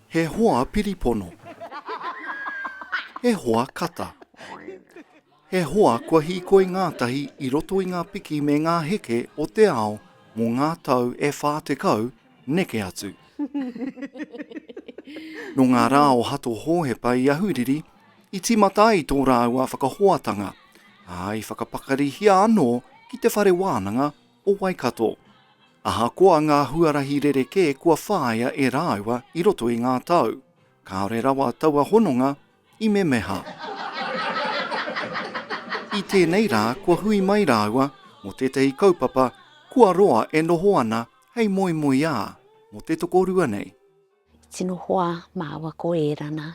He hoa piripono. He hoa kata. He hoa kua hīkoi ngātahi i roto i ngā piki me ngā heke o te ao mō ngā tau e 40 neke atu. Nō ngā rā o Hato Hōhepa i Ahuriri i tīmata ai tō rāua whakahoatanga, ā, i whakapakarihia anō ki te whare wānanga o Waikato. Ahakoa ngā huarahi rerekē kua whāia e rāua i roto i ngā tau, kāore rawa taua hononga i memeha. I tēnei rā kua hui mai rāua mō tētahi kaupapa kua roa e noho ana hei moemoeā mō te tokorua nei. Tino hoa māua ko Ērana,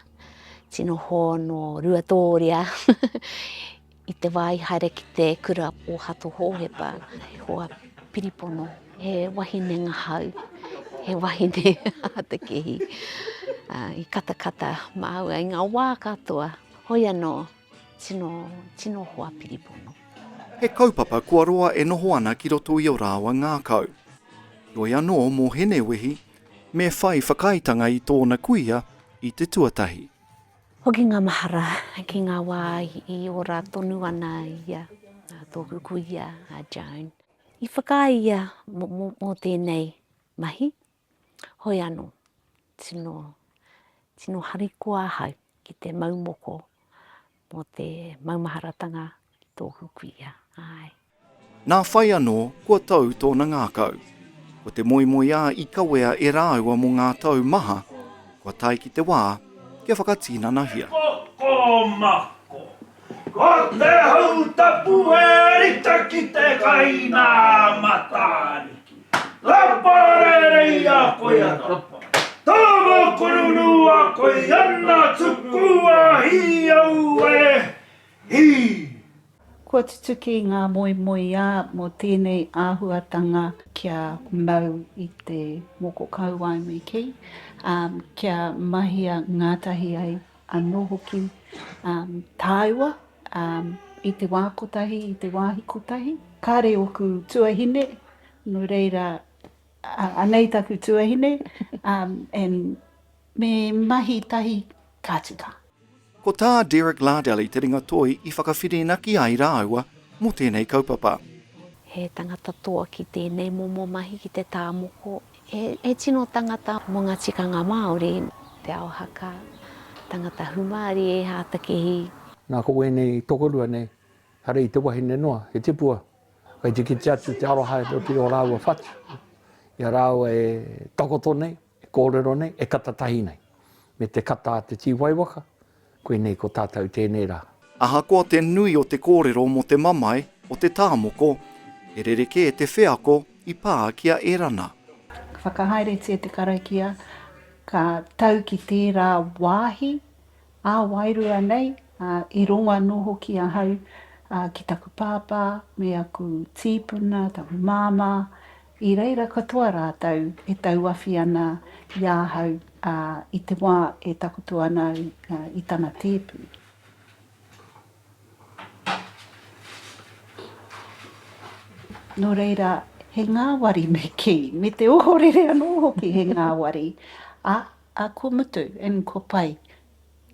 tino hoa nō Ruatōria i te wā i haere ki te kura o Hato Hōhepa, he hoa piripono, he wahine ngahau, he wahine a te kehi. I katakata māua i ngā wā katoa, hoi anō, tino, tino hoa piripono. He kaupapa kua roa e noho ana ki roto i ō rāua ngākau. Heoi anō, mō Hene Wehi, Me whai whakaaetanga i tōna kuia i te tuatahi. Hoki ngā mahara ki ngā wā i ora tonu ana i a tōku kuia a Joan. I whakaae ia mō tēnei mahi, hoi anō, tino harikoa ahau ki te mau moko Mō te maumaharatanga ki tōku kuia, āe. Nā whai anō, kua tau tōna ngākau. Ko te moemoeā i kawea e rāua mō ngā tau maha, kua tae ki te wā kia whakatinanahia. Ko, ko Mako. Ko te hau tapu e rita ki te kai nā Matariki. Kapa rerei a koe ana. Tama kurunu a koe ana tuku a hi au e hi. Kua tutuki ngā moemoeā mō tēnei āhuatanga. Kia mau i te moko kauae me kī, ā, kia mahia ngātahi ai anō hoki tāua i te wā kotahi, i te wāhi kotahi. Kāre ōku tuahine, nō reira, anei taku tuahine, and me mahi tahi ka tika. Ko tā Derek Lardelli te ringatoi i whakawhirinaki ai rāua mō tēnei kaupapa. He tangata toa ki tēnei momo mahi ki te tā moko He tino tangata mo nga tikanga Maori te ao haka, tangata humari e hatakihi. Na ko wenei tokorua nei, hare i te wahine noa, he tipua, kai te kite atu te aroha e roti o raua whatu, i a raua e takoto nei, e korero nei, e kata tahi nei, me te kata a te tiwai waka, Koinei ko tātou tēnei rā. Ahakoa te nui o te kōrero mō te mamae o te tāmoko, he rerekē te wheako i pā ki a Erana. Ka whakahaeretia te karakia, ka tau ki tērā wāhi ā-wairua nei, ā, i rongo anō hoki ahau ki taku pāpā me aku tīpuna, taku māmā, I reira katoa rātou e tauawhi ana i ahau, ā, i te wā e takoto ana au i tana tēpu. Nō reira, he ngāwari me kī, me te ohorere anō hoki he ngāwari, ā, ko mutu, and ko pai,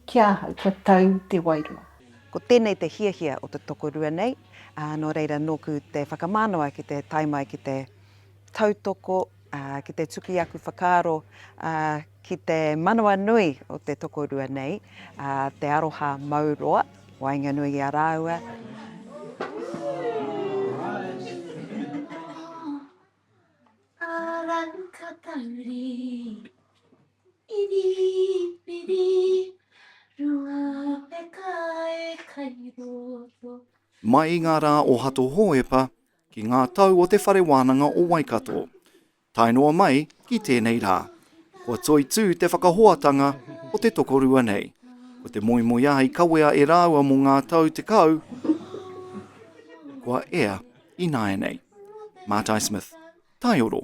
Ki ahau kua tau te wairua. Ko tēnei te hiahia o te tokorua nei, ā, nō reira nōku te whakamanawa ki te tae mai ki te tautoko, ā, ki te tuki aku whakaaro, ā, ki te manawa nui o te tokorua nei, ā, te aroha mau roa, waenganui i a rāua. Arangi ka tahuri i rīpiri runga peka e kai roto. Mai i ngā rā o Hato Hōhepa ki ngā tau o Te Whare Wānanga o Waikato, tae noa mai ki tēnei rā, kua toitū te whakahoatanga o te tokorua nei, ko te moemoeā i kawea e rāua mō ngā tau tekau kua ea. Ināianei. Mātai Smith. Taioro.